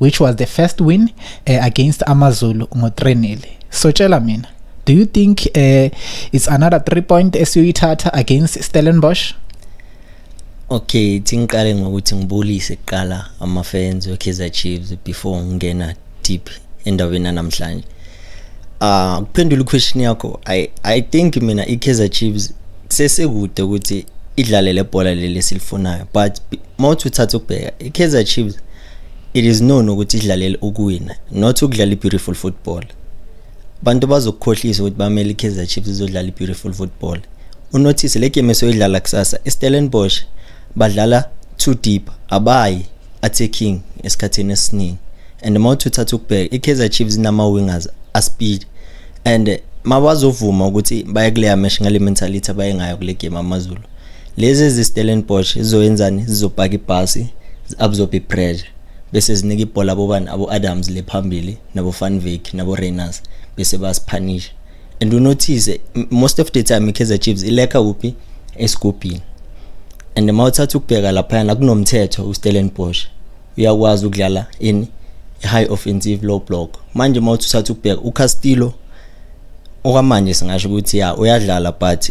which was the first win uh, against amazulu ngo-3 so tshela mina do you think uh, it's another three point esiyoyithatha against stellenbosch okay thingiqale ngokuthi ngibulise kuqala ama-fans we-kaizer chiefs before ngingena deep endabeni yanamhlanje uh kuphendula iquestion yakho i i think mina iKaizer Chiefs sesekude ukuthi idlale lebhola leli silifunayo but mawuthi uthatha ukubheka iKaizer Chiefs It is known ukuthi idlalele ukuwina not ukudlala i-beautiful football abantu bazokukhohlisa ukuthi bamele i-kaizer chiefs izodlala i-beautiful football unothise le game esoyidlala kusasa istellenbosch badlala too deep abayi attacking esikhathini esiningi and uma uthi uthatha ukubheka i-kaizer chiefs inama-wingers aspeed and mabazovuma ukuthi baye kuleya mesh ngale mentality abaye ngayo kule game amazulu lezi ezistellenbosch zizoyenzani zizopaka ibhasi zi-absorbe ipressure bese zinika ibhola abobani abo-adams le phambili nabo-fanvik nabo-rainers bese basiphanisha and unothise most of the time i-kaizer chiefs ilekha kuphi esigubhini and uma uthatha ukubheka laphayana kunomthetho ustellenbosch uyakwazi ukudlala in high offensive low block manje uma uthi uthatha ukubheka ucastillo okwamanje singasho ukuthi ya uyadlala but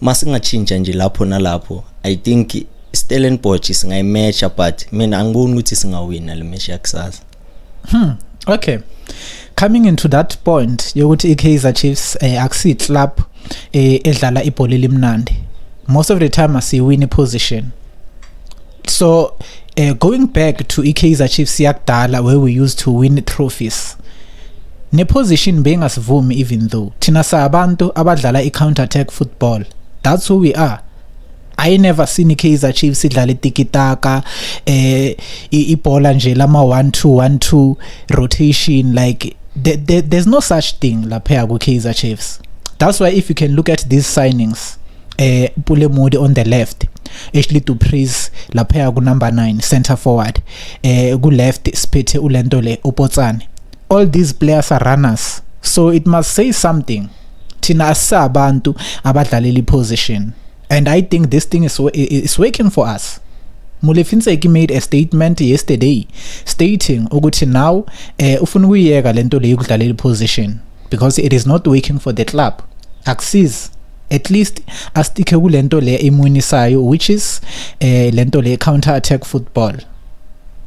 masingatshintsha nje lapho nalapho i think Stellenbosch singayimatcha but mina angiboni ukuthi singawina le match yakusasa hmm okay coming into that point yokuthi iKaizer Chiefs eh, akusi club eh, edlala ibhola elimnandi most of the time asiwini position so uh, going back to iKaizer Chiefs yakudala where we used to win trophies neposition bengasivumi even though thina sabantu abadlala i-counter attack football that's who we are I never seen iKaizer Chiefs idlala itikitaka eh ibhola nje lama 1 2 1 2 rotation like there, there, there's no such thing lapha ku Kaizer Chiefs that's why if you can look at these signings eh Pule Modi on the left Ashley Dupreez lapha ku number 9 center forward eh ku left siphethe ulento le uPotsane all these players are runners so it must say something thina asabantu abadlalela iposition and i think this thing is is working for us Mulefinseki made a statement yesterday stating ukuthi now eh ufuna ukuyeka lento le yokudlalela iposition because it is not working for the club akusizi at least asticke kulento le imunisayo which is eh lento le counter attack football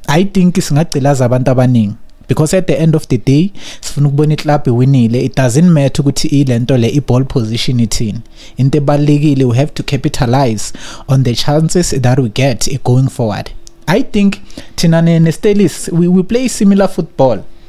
i think singagcilaza abantu abaningi because at the end of the day sifuna ukubona iclub iwinile it doesn't matter ukuthi ilento le iball position ithini into ebalekile we have to capitalize on the chances that we get going forward i think thina ne Stelis we, we play similar football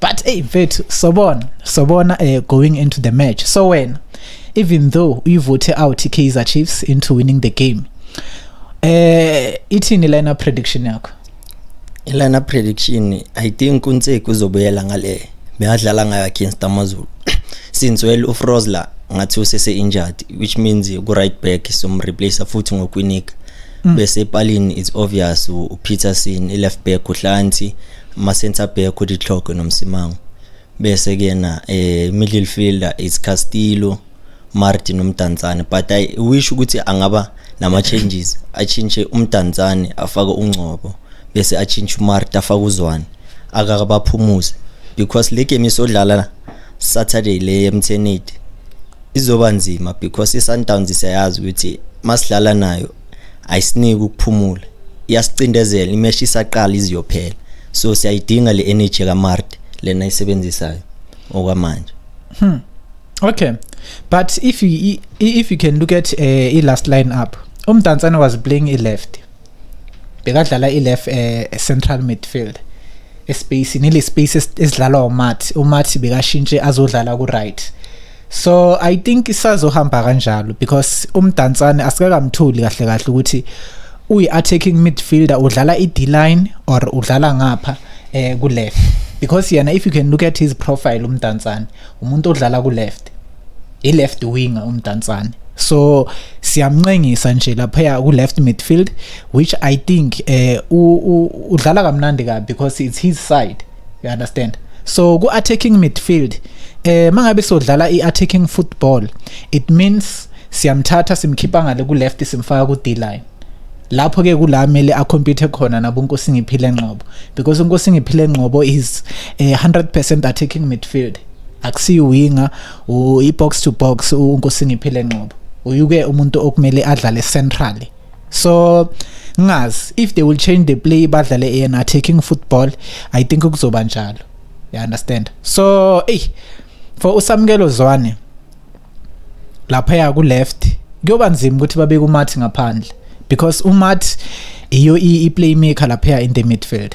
but hey mfethu sobona sobona eh going into the match so wena even though you vote out Kaizer Chiefs into winning the game eh ithini lena prediction yakho lana prediction i think uNtseki uzobuyela ngale beyadlala ngayo against AmaZulu since well uFrozler ngathi usese injured which means ku right back som replace futhi ngokwinika mm. bese epalini it's obvious uPeterson i left back uHlanti ama-centre back uDitlhoko noMsimango bese kuyena eh middle fielder is Castillo Martin uMdantsane but I wish ukuthi angaba nama changes achinche uMdantsane afake uNgcobo bese achinche uMarta afake uZwane akakabaphumuze because le game isodlala Saturday le eMtheneti izoba nzima because iSundowns siyayazi ukuthi masidlala nayo ayisiniki ukuphumula iyasicindezela imeshi isaqala iziyophela so siyayidinga le energy kaMarte lena isebenzisayo okwamanje hmm. okay but if you if you can look at uh, eh, i last line up umdansana was playing i left bekadlala i left uh, eh, central midfield espace nile space esidlalwa uMathi uMathi bekashintshe azodlala ku right so i think isazohamba kanjalo because umdansane asikakamthuli kahle kahle ukuthi uyi attacking midfielder udlala i D line or udlala ngapha eh ku left because yena if you can look at his profile umdansane umuntu odlala ku left i left winger umdansane so siyamncengisa nje lapha ku left midfield which i think eh udlala kamnandi kabi because it's his side you understand so ku attacking midfield eh mangabe sodlala i attacking football it means siyamthatha simkhipha ngale ku left simfaka ku D line lapho ke kula mele a compete khona nabo Nkosi ngiphile ngqobo because Nkosi ngiphile ngqobo is eh, 100% attacking midfield akusiyi winger u box to box uNkosi ngiphile ngqobo uyuke umuntu okumele adlale centrally so ngazi if they will change the play badlale in attacking football i think kuzoba njalo you understand so hey for usamkelo zwane lapha ya ku left kuyoba nzima ukuthi babe kumathi ngaphandle because umathi iyo i playmaker lapha in the midfield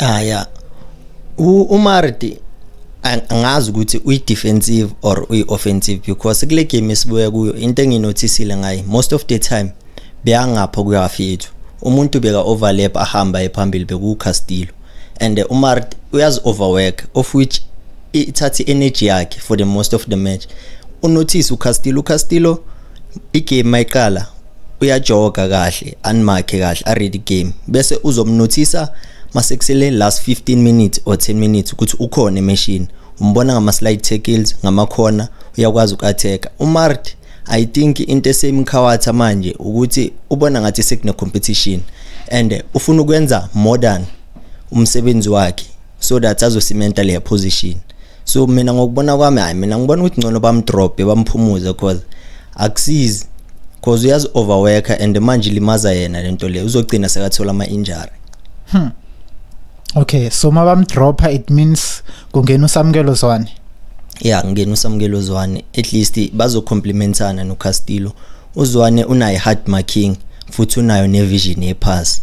Ah yeah. UMardi angazi ukuthi uyi-defensive or uyi-offensive because kule game esibuya kuyo into enginothisile ngaye most of the time beyangapho kuyafi yethu umuntu beka overlap ahamba ephambili bekuwucastillo and uh, umar uyazi overwork of which ithatha i-energy yakhe for the most of the match unothise ucastillo ucastillo igame mayiqala uyajoga kahle animakhe kahle aread igame bese uzomnothisa masekusele last 15 minutes or 10 minutes ukuthi ukhona emeshini umbona ngama-slide tackles ngamakhona uyakwazi uku-attack umart i think into esemkhawatha manje ukuthi ubona ngathi sekune-competition and ufuna ukwenza modern umsebenzi wakhe so that azosimenta le position so mina ngokubona kwami hayi mina ngibona ukuthi ngcono bamdrope bamphumuze cause akusizi cause uyazi overworker and manje limaza yena lento le uzogcina sekathola ama injury hmm okay so mabamdropa it means kungena usamkelo zwane yeah ngena usamkelo zwane at least bazocomplementana no Castillo uzwane unayi hard marking futhi unayo nevision yepass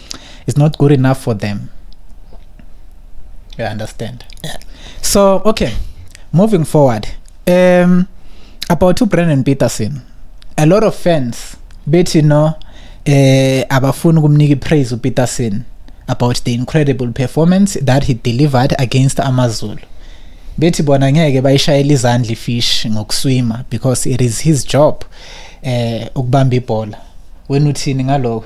it's not good enough for them you understand yeah. so okay moving forward um about to Brandon Peterson a lot of fans bethi no eh abafuni ukumnika ipraise uPeterson about the incredible performance that he delivered against AmaZulu bethi bona ngeke bayishayela izandla ifish ngokuswima because it is his job eh ukubamba ibhola wena uthini ngaloko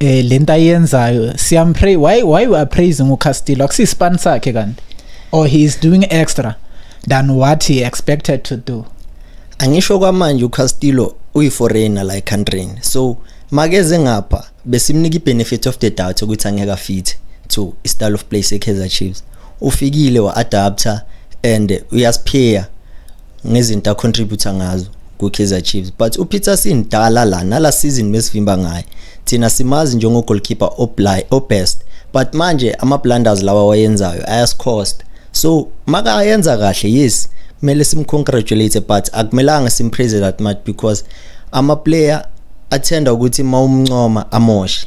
eh lento ayenzayo siyampray why why you are praising uCastillo akusispan sakhe kanti or he is doing extra than what he expected to do angisho kwamanje uCastillo uyiforeigner la ecountryini so makeze ngapha besimnika ibenefit of the doubt ukuthi angeke afithe to istyle of play seKaizer Chiefs ufikile wa-adapter and uyasiphia ngezinto acontributor ngazo kwi-kaizer chiefs but upeter sindala la nala season mesivimba ngaye thina simazi njengogoalkeeper obest but manje ama-blunders lawa wayenzayo ayasicosta so makayenza kahle yes kumele simcongratulate but akumelanga simpraise that much because ama-player athenda ukuthi uma umncoma amoshe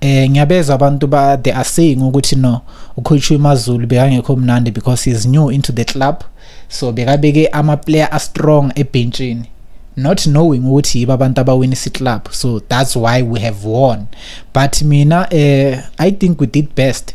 eh ngiyabezwa abantu ba they are saying ukuthi no ukhutshwe imazulu bekangekho mnandi because he's new into the club so bekabeke ama player a strong ebhentshini not knowing ukuthi yiba abantu abawina isi club so that's why we have won but mina eh i think we did best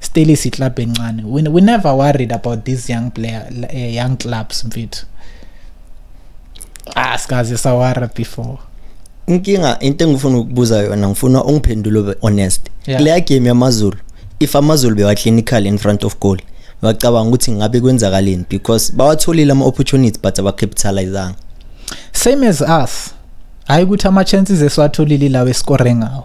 still is club encane we, we never worried about these young player uh, young clubs mfethu ah sikaze sawara before inkinga into engifuna ukubuza yona ngifuna ungiphendule honest yeah. leya game yamazulu if amazulu bewa clinical in front of goal bacabanga ukuthi ngabe kwenzakaleni because bawatholile ama opportunities but abacapitalizanga same as us hayi ukuthi ama chances esiwatholile lawo escore ngawo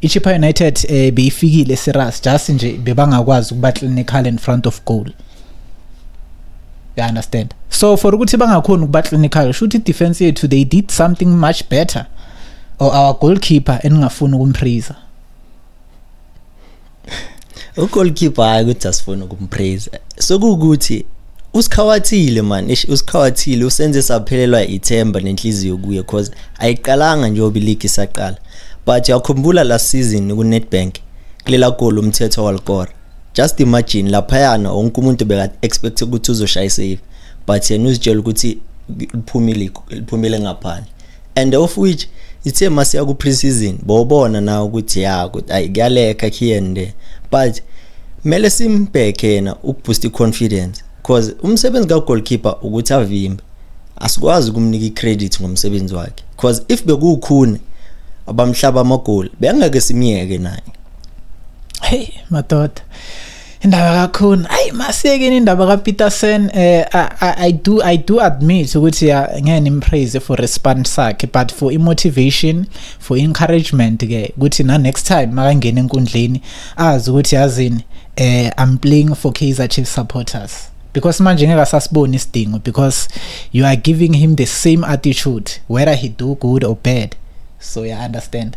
iChippa United eh beyifikile serious just nje bebangakwazi ukuba clinical in front of goal you understand so for ukuthi bangakhona ukuba clinical shuthi defense yethu they did something much better or our goalkeeper eningafuni ukumphriza ugoalkeeper hayi ukuthi asifuna ukumpraise sokuwukuthi usikhawathile man ish usikhawathile usenze saphelelwa ithemba nenhliziyo kuye cause ayiqalanga njengoba iligi isaqala but yakhumbula last season kunetbank kulela goli umthetho walikora just imagine laphayana wonke umuntu beka-expect ukuthi uzoshaya isave but yena uzitshela ukuthi liphumile liphumile ngaphandle and of which ithe masiya ku pre-season bobona na ukuthi ya ukuthi ayi kuyaleka khiyende but mele simbheke yena ukuboost i-confidence because umsebenzi ka-goalkeeper ukuthi avimbe asikwazi ukumnika i-credit ngomsebenzi wakhe because if bekuwukhune abamhlaba amagoli bengeke simyeke naye hey madoda indaba kakhona ayi masiyekeni indaba kapeterson eh, I, do, i do admit ukuthi ya ngeke nimpraise for response sakhe but for imotivation for encouragement-ke ukuthi na-next time makangena enkundleni azi ukuthi yazini eh, i'm playing for kaizer chief supporters because manje ngeke asasiboni isidingo because you are giving him the same attitude whether he do good or bad so you understand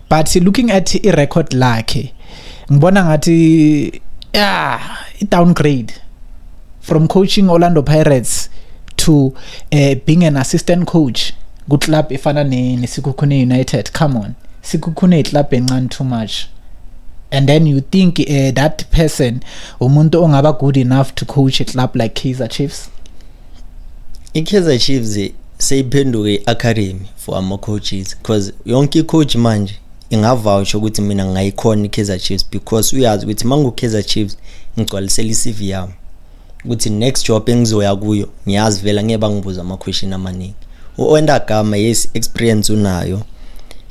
but looking at i record lakhe ngibona ngathi yeah i downgrade from coaching Orlando Pirates to uh, being an assistant coach ku club efana ne neSikhukhune United come on Sikhukhune club encane too much and then you think uh, that person umuntu ongaba good enough to coach a club like Kaizer Chiefs i-kaizer chiefs seyiphenduke i-academy for ama-coaches because yonke i-coach manje ingavawusha ukuthi mina ngayikhona i-kaizer chiefs because uyazi ukuthi uma ngu-kaizer chiefs ngigcwalisela i-cv yami ukuthi next job engizoya kuyo ngiyazi vela ngeke bangibuza ama-question amaningi u-ondagama yes experience unayo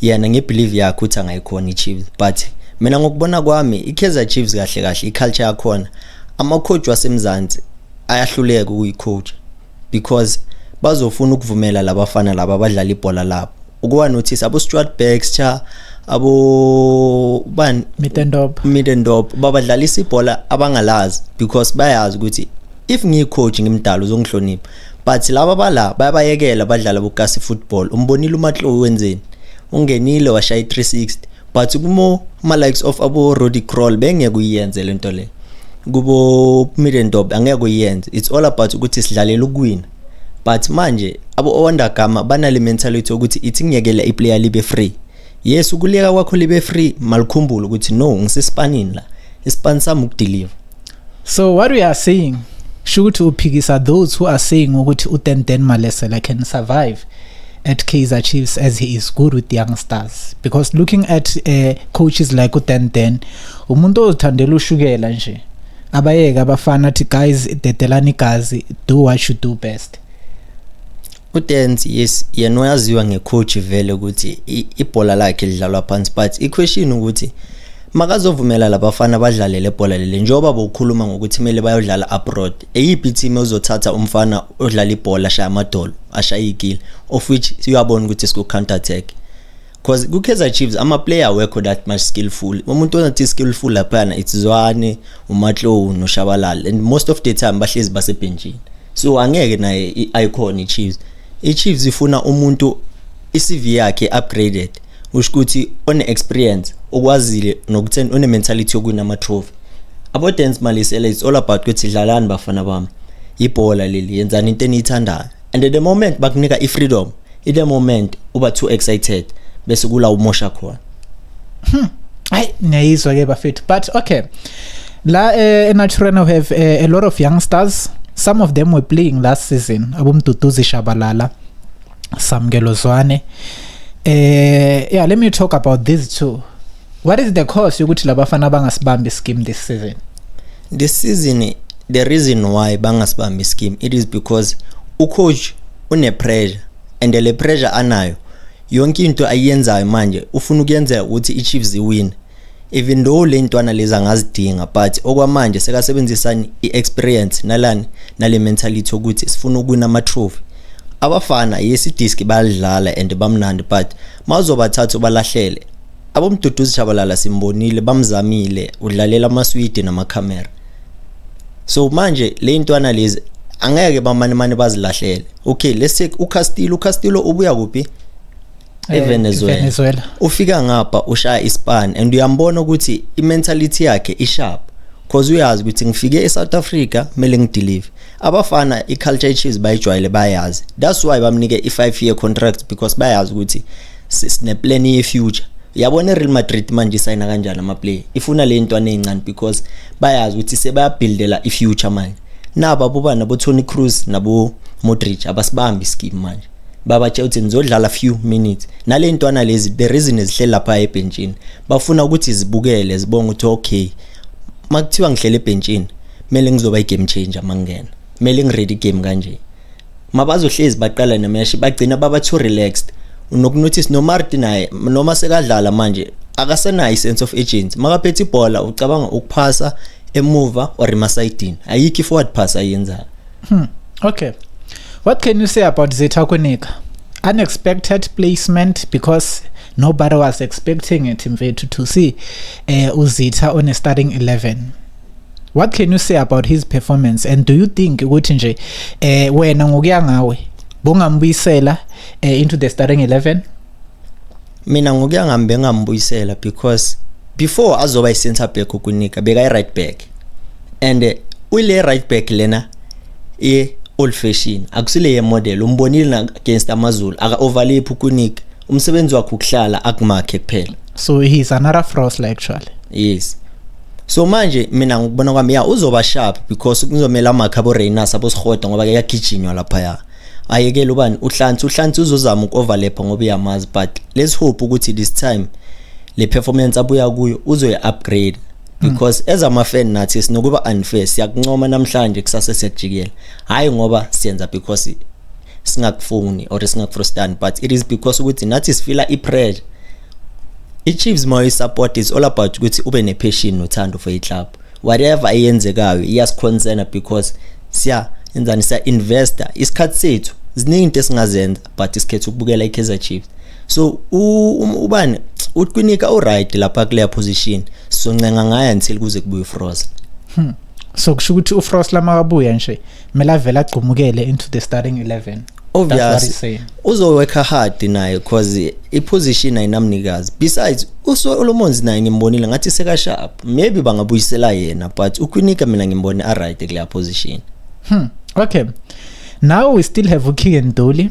yena ngebelieve yakhe ukuthi angayikhona i-chiefs but mina ngokubona kwami i-kaizer chiefs kahle kahle i-culture yakhona ama-coach wasemzansi ayahluleka ukuyicoach because bazofuna ukuvumela labafana laba abadlala ibhola labo ukuwa notice abo Stuart Baxter abo ban Middendorp Middendorp babadlalisa ibhola abangalazi because bayazi ukuthi if ngiyicoach ngimdala uzongihlonipha but laba bala bayabayekela badlala bokasi football umbonile umatlo wenzeni ungenile washaya 360 but kumo ma likes of abo Roddy Crawl bengeke uyenze lento le kubo Middendorp angeke uyenze it's all about ukuthi sidlalela ukuwina but manje abo owandagama banale mentality ukuthi ithi ngiyekela iplayer libe free yes ukuleka kwakho libe free malikhumbule ukuthi no ngisesipanini la isipani sami ukudeliver so what we are saying sho ukuthi uphikisa those who are saying ukuthi utenten malesela can survive at Kaizer Chiefs as he is good with young stars because looking at uh, coaches like uTenten umuntu ozithandela ushukela nje abayeke abafana athi guys dedelani igazi do what you do best uDance yes yena uyaziwa ngecoach vele ukuthi ibhola lakhe lidlalwa phansi but iquestion ukuthi makazovumela labafana badlalele ibhola leli njengoba bokukhuluma ngokuthi kumele bayodlala abroad eyiphi team ozothatha umfana odlala ibhola ashaya amadolo ashaya igile of which uyabona ukuthi siku counter attack because ku-kaizer chiefs ama-player awekho that much skillful umuntu onathi skillful laphana it's zwane umatlow noshabalala and most of the time bahlezi basebhenjini so angeke naye i-icon i-chiefs i-chiefs ifuna umuntu i-cv yakhe upgraded usho ukuthi one-experience okwazile nokutheni one-mentality yokuwina ama-trophy abo-dance malisela it's all about ukuthi dlalani bafana bami ibhola leli yenzani into eniyithandayo and the moment bakunika i-freedom ile moment uba too excited bese kula umosha khona hmm. hayi ngiyayizwa ke bafethu but okay la eh, enaturena we have eh, a lot of youngsters some of them were playing last season abomduduzi shabalala samkelo zwane eh yeah let me talk about these two what is the cause yokuthi labafana bangasibambi scheme this season this season the reason why bangasibambi scheme it is because ucoach unepressure and le pressure anayo yonke into ayenzayo manje ufuna ukuyenzeka ukuthi iChiefs iwine even though le ntwana lezi angazidinga but okwamanje sekasebenzisani i-experience nalani nale mentality ukuthi sifuna ukuwina ama-trophy abafana yesidiski bayalidlala and bamnandi but mawuzobathatha ubalahlele Abomduduzi Shabalala simbonile bamzamile udlalela amaswidi namakhamera. So manje le ntwana lezi angeke bamane mane bazilahlele. Okay, let's take uCastillo, uCastillo ubuya kuphi? Eh, eVenezuela. Venezuela. Ufika ngapha ushaya iSpan and uyambona ukuthi imentality yakhe isharp. Cause uyazi ukuthi ngifike eSouth Africa mele ngideliver. Abafana iCulture Chiefs bayijwayele bayazi. That's why bamnike i5 year contract because bayazi ukuthi sine plan ye future yabona iReal Madrid manje isayina kanjani ama player ifuna le ntwana ezincane because bayazi ukuthi sebayabuildela i future manje naba bobana bo Toni Kroos nabo Modric abasibambi scheme manje babatshela ukuthi nizodlala few minutes nale ntwana lezi the reason ezihleli lapha ebhentshini bafuna ukuthi zibukele zibonge ukuthi okay makuthiwa ngihlele ebhentshini kumele ngizoba i game changer mangena kumele ngiready game kanje mabazohlezi baqala nemeshi bagcina baba too relaxed unokunotice nomarti naye noma sekadlala manje akasenayo i-sense of urgency makaphethe ibhola ucabanga ukuphasa emuva or emasayidini ayikho i-forward pass ayenzayo hmm. okay what can you say about zetha kwenika unexpected placement because nobody was expecting it mfethu to see uh, uzitha on a starting 11 what can you say about his performance and do you think ukuthi nje eh wena ngokuya ngawe bongambuyisela eh, into the starting 11 mina ngokuya ngami bengambuyisela because before azoba i-center back ukunika bekayi-right back and eh, uyile right back lena ye old fashion akusile ye model umbonile na against amazulu aka overlap ukunika umsebenzi wakhe ukuhlala akumakhe kuphela so he's another frost actually yes so manje mina ngikubona kwami ya uzoba sharp because kuzomela amakhabo Reynas abosihoda ngoba ke yagijinywa lapha ya ayekele ubani uhlansi uhlansi uzozama ukoverlap ngoba uyamazi but let's hope ukuthi this time le performance abuya kuyo uzoyi upgrade because mm. as ama fan nathi sinokuba unfair siyakuncoma namhlanje kusase siyajikela hayi ngoba siyenza because singakufuni or singakufrustani but it is because ukuthi nathi sifila i-pressure i-chiefs uma uyi-support is all about ukuthi ube ne-passion nothando for i-club whatever eyenzekayo iyasiconcena because siya enzani siya-investa isikhathi sethu ziningi into esingazenza but isikhetha ukubukela i-kaizer chiefs so um, ubani utwinika uright lapha kuleya position soncenga ngayo until kuze kubuye ufrost hmm. so kusho ukuthi ufrost lama kabuya nje kumele avele agcumukele into the starting 11 obvious uzoworka hard naye cause iposition ayinamnikazi besides usolomons naye ngimbonile ngathi sekasharp maybe bangabuyisela yena but ukwinika mina ngimbone aright kuleya position hmm. okay now we still have ukegan doli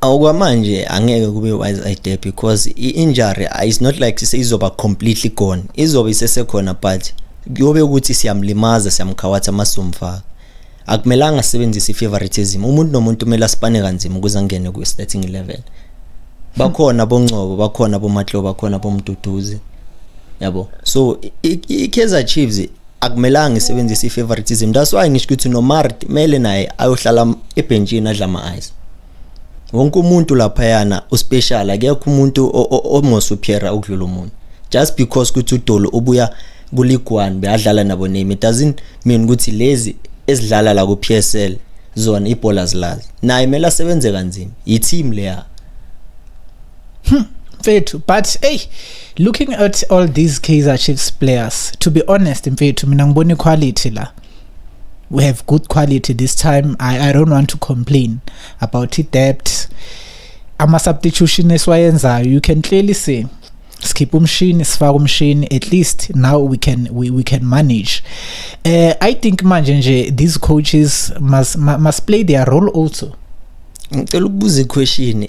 okwamanje angeke kube wise idea because i-injury is not like izoba completely gone izobe isesekhona but kuyobe ukuthi siyamlimaza siyamkhawatha masumfaka akumelanga asebenzise i-favoritism umuntu nomuntu kumele asipane kanzima ukuze angene kwi-starting 11 bakhona bongcobo bakhona bomatlo bakhona bomduduzi yabo so i-kaizer chiefs akumelanga isebenzise i-favoritism that's why ngisho ukuthi nomart kumele naye ayohlala ebhentshini adla ama-ice wonke umuntu laphayana uspecial akekho umuntu omosuphera ukudlula umuntu just because ukuthi udolo ubuya kuligwani beyadlala nabo name it doesn't mean ukuthi lezi ezidlala la ku-psl zona ibhola zilazi naye kumele asebenze kanzima yi-team leya Hmm. mfethu but hey looking at all these kaizer chiefs players to be honest mfethu mina ngibona iquality la we have good quality this time i, I don't want to complain about i-debt ama-substitution esiwayenzayo you can clearly see sikhipha umshini sifaka umshini at least now we can we, we can manage uh, i think manje nje these coaches must, must play their role also ngicela ukubuza iquestion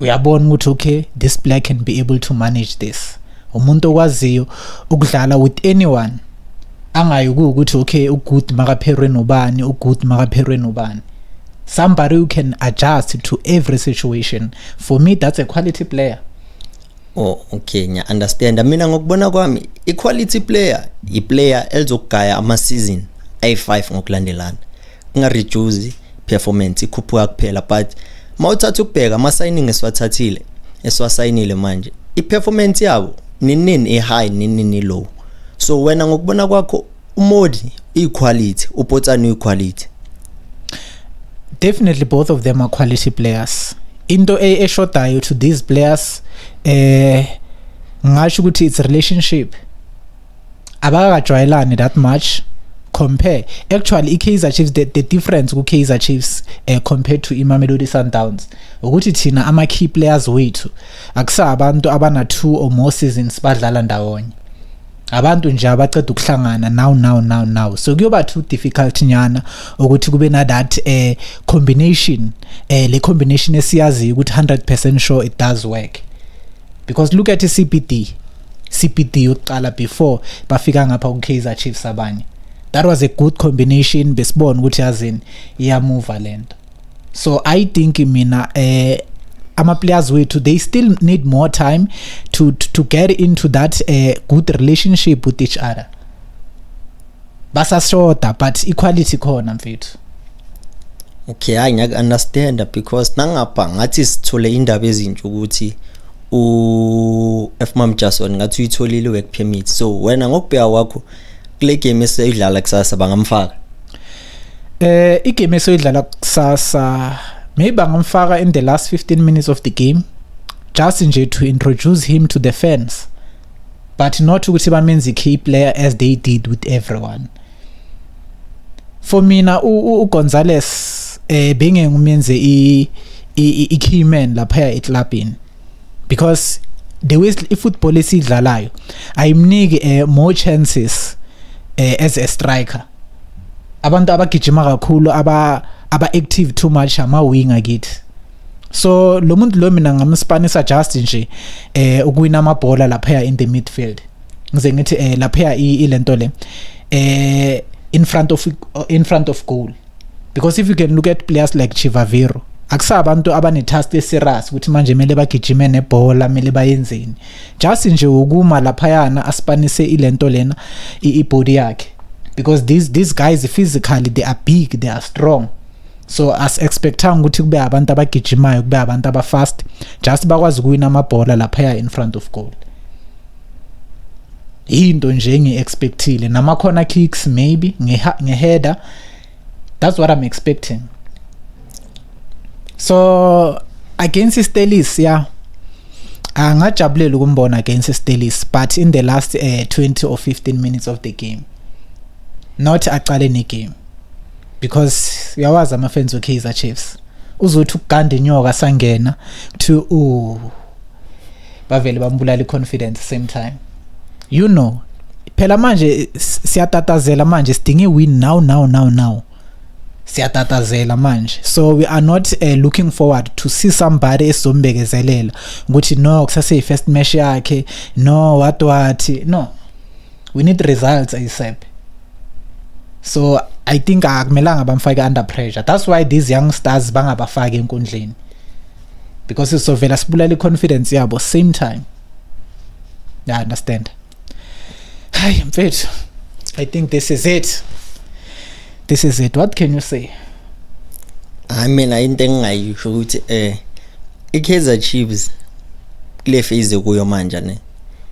uyabona ukuthi okay this player can be able to manage this umuntu okwaziyo ukudlala with anyone angayi ukuthi okay ugood makapherwe nobani ugood makapherwe nobani somebody who can adjust to every situation for me that's a quality player oh okay ngiya understand mina ngokubona kwami i quality player i player elizogaya ama season ayi5 ngokulandelana kunga reduce performance ikhuphuka kuphela but mawuthatha ukubheka ama signing esiwathathile esiwasayinile manje i performance yabo ninini i high ninini low so wena ngokubona kwakho umodi iquality upotsani iquality definitely both of them are quality players into e, eshodayo to these players eh ngasho ukuthi it's relationship abakajwayelani that much compare actually iKaizer Chiefs the, the difference ku Kaizer Chiefs uh, compared to iMamelodi Sundowns ukuthi thina ama key players wethu akusa abantu abana two or more seasons badlala ndawonye abantu nje abaceda ukuhlangana now now now now so kuyoba too difficult nyana ukuthi kube na that eh combination eh le combination esiyazi ukuthi 100% sure it does work because look at iCBD CPD yokuqala before bafika ngapha ku Kaizer Chiefs abanye that was a good combination besibona ukuthi yazini iyamuva lento so i think mina eh ama players wethu they still need more time to to, to get into that uh, good relationship with each other basashoda but equality khona mfethu okay hayi ngiyake understand because nangapha ngathi sithole indaba ezintsha ukuthi u FMam Jason ngathi uyitholile work permit so wena ngokubheka kwakho kule game eseyidlala kusasa bangamfaka eh igame eseyidlala kusasa maybe bangamfaka in the last 15 minutes of the game just nje to introduce him to the fans but not ukuthi bamenza i-key player as they did with everyone for mina ugonzales eh bengengumenze i-key man laphaya eclubini because the way i-football esidlalayo ayimniki eh, more chances eh, as a striker abantu abagijima kakhulu aba aba active too much ama winger kithi so lo muntu lo mina ngamspanisa just nje eh ukuwina amabhola lapha in the midfield ngize ngithi eh lapha ilento le eh in front of in front of goal because if you can look at players like Chivaviro akusabantu abanetask eserious ukuthi manje kumele bagijime nebhola kumele bayenzeni just nje ukuma laphayana asipanise ilento lena ibody yakhe because these these guys physically they are big they are strong so as expectanga ukuthi kube abantu abagijimayo kube abantu abafast just bakwazi ukuwina amabhola laphaya in front of goal into nje ngi-expectile namakhona kicks maybe ngeheader that's what i'm expecting so against istelis yeah angajabulela ukumbona against istelis but in the last uh, eh, 20 or 15 minutes of the game not aqale negame because uyawazi ama fans we Kaizer Chiefs uzothi ukuganda inyoka sangena to u bavele bambulala iconfidence same time you know phela manje siyatatazela manje sidinga iwin now now now now siyatatazela manje so we are not uh, looking forward to see somebody esizombekezelela ukuthi no kusase first match yakhe no what what no we need results asap so i think akumelanga bamfake under pressure that's why these young stars bangabafaki enkundleni because sizovela sibulala i-confidence yabo same time yeah understand hayi mfethu i think this is it this is it what can you say hayi mina into engingayisho ukuthi um eh, i-kaizer chiefs kule phase kuyo manje ne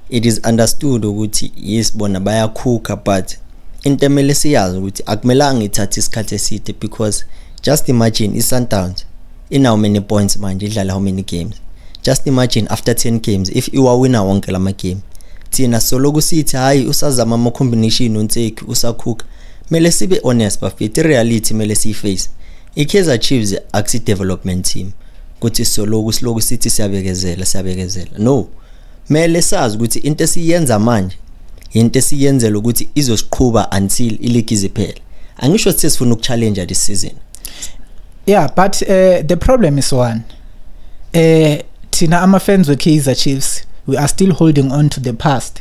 it is understood ukuthi yes bona bayakhukha but into emele siyazi ukuthi akumelanga ithathe isikhathi eside because just imagine i-sundowns inawo many points manje idlala how many games just imagine after 10 games if iwawina wonke la magame thina soloku sithi hhayi usazama ama-combination unseki usakhukha mele sibe honest bafethu i-reality mele siyiface I-Kaizer Chiefs akusi development team kuthi soloku siloku sithi siyabekezela siyabekezela no mele sazi ukuthi into esiyenza manje into esiyenzela ukuthi izosiqhuba until iligi iziphele angisho sithi sifuna ukuchallenge this season yeah but uh, the problem is one eh uh, thina ama fans we Kaizer Chiefs we are still holding on to the past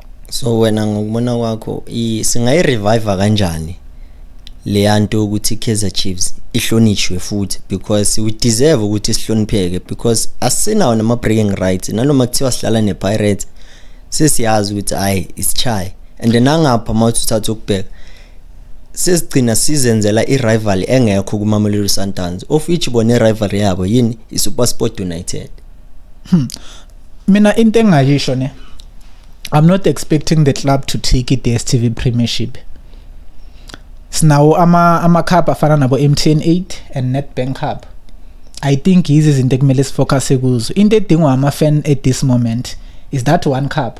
so wena ngokubona kwakho singayi-reviva kanjani leya nto ukuthi i-kaizer chiefs ihlonishwe futhi because we deserve ukuthi sihlonipheke because asinawo nama-breaking rights nanoma kuthiwa sidlala ne-pirates sesiyazi ukuthi hhayi isitshaye and nangapha uma uthi uthatha ukubheka sesigcina sizenzela i-rival engekho kumamelodi sundowns of which bona i-rival yabo yini i-supersport united hmm. mina into engayisho ne I'm not expecting the club to take it DStv Premiership sinawo ama ama cup afana nabo MTN 8 and Nedbank Cup I think yizi izinto ekumele sifocus kuzo into edingwa ama fan at this moment is that one cup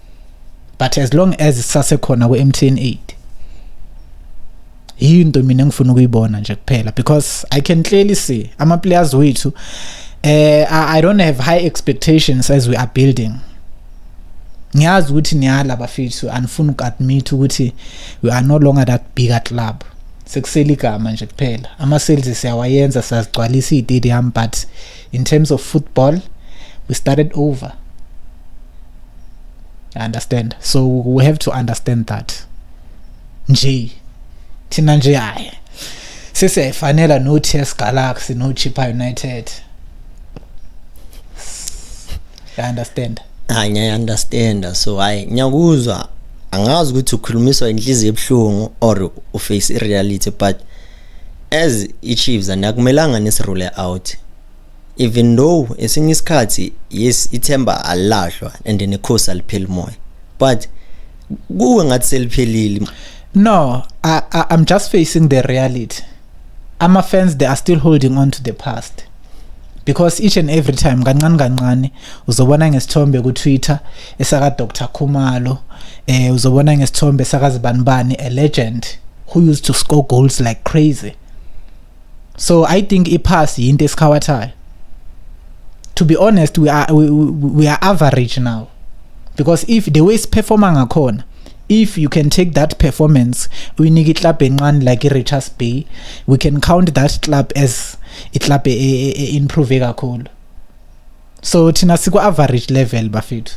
but as long as sisasekhona ku-mtn 8 yiyo into mina engifuna ukuyibona nje kuphela because i can clearly see ama-players wethu uh, i don't have high expectations as we are building ngiyazi ukuthi niyala bafethu anifuni uku-admit ukuthi we are no longer that big a club sekusele igama nje kuphela ama-sales siyawayenza siyazigcwalisa iy'tadium but in terms of football we started over I understand so we have to understand that nje thina nje hayi sesiyayifanela no TS Galaxy no Chippa United I understand hayi ngiya understand so hayi ngiyakuzwa angazi ukuthi ukhulumiswa inhliziyo ebuhlungu or uface ireality but As iChiefs anakumelanga nisirule out. Even though esinye isikhathi yes ithemba alahlwa and nekhosi alipheli moya. But kuwe ngathi seliphelile. No, I, I, I'm just facing the reality. Ama fans they are still holding on to the past. because each and every time kancane kancane uzobona ngesithombe ku-twitter esaka Dr Khumalo eh uzobona ngesithombe sakazibanibani a legend who used to score goals like crazy so i think ipass yinto esikhawathayo to be honest we are we, we are average now because if the way siperforma ngakhona if you can take that performance uyinike iclub encane like i-richards bay we can count that club as iclub e-, e-, e-, e-improve kakhulu so thina siku average level bafethu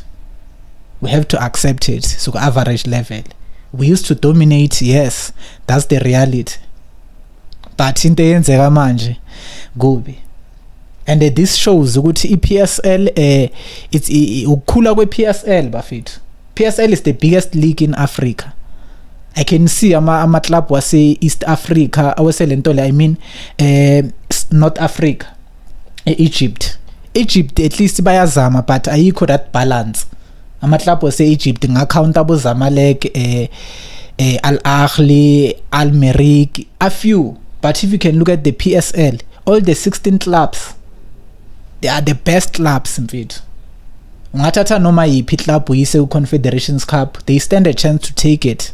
we have to accept it siku average level we used to dominate yes that's the reality but into eyenzeka manje kubi and uh, this shows ukuthi iPSL uh, eh, it's ukukhula kwePSL bafethu PSL is the biggest league in Africa I can see ama ama club wase East Africa awese lento le I mean eh uh, North Africa e-egypt egypt at least bayazama but ayikho that balance amaklabhu ase-egypt ngakhawunta abozamalek um eh, eh, al-ahli al-merik a few but if you can look at the p s l all the 16 clubs they are the best clubs mfethu ungathatha noma yiphi club uyise ku-confederations cup they stand a chance to take it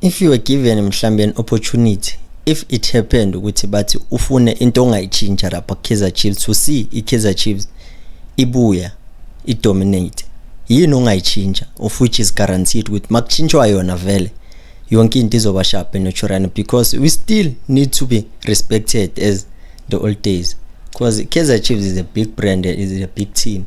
if you were given mhlambe an opportunity if it happened ukuthi bathi ufune into ongayitshintsha lapha Kaizer Chiefs to see iKaizer Chiefs ibuya idominate yini ongayitshintsha of which is guaranteed ukuthi makushintshwa yona vele yonke into izoba sharp naturally because we still need to be respected as the old days because Kaizer Chiefs is a big brand is a big team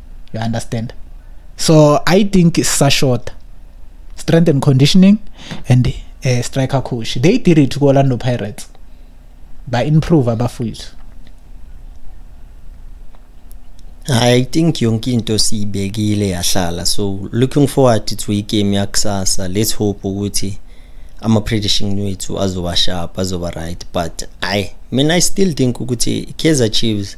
you understand so i think sisashota strength and conditioning and uh, striker coach they did it ku Orlando Pirates ba improve abafowethu I think yonke into siyibekile yahlala so looking forward to igame yakusasa let's hope ukuthi ama prediction wethu azoba sharp azoba right but i mean i still think ukuthi Kaizer Chiefs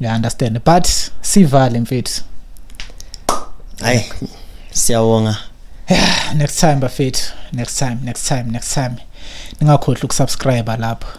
ya understand but sivale mfethu hayi siyawonga next time bafethu next time next time next time ningakhohlwa ukusubscribe lapho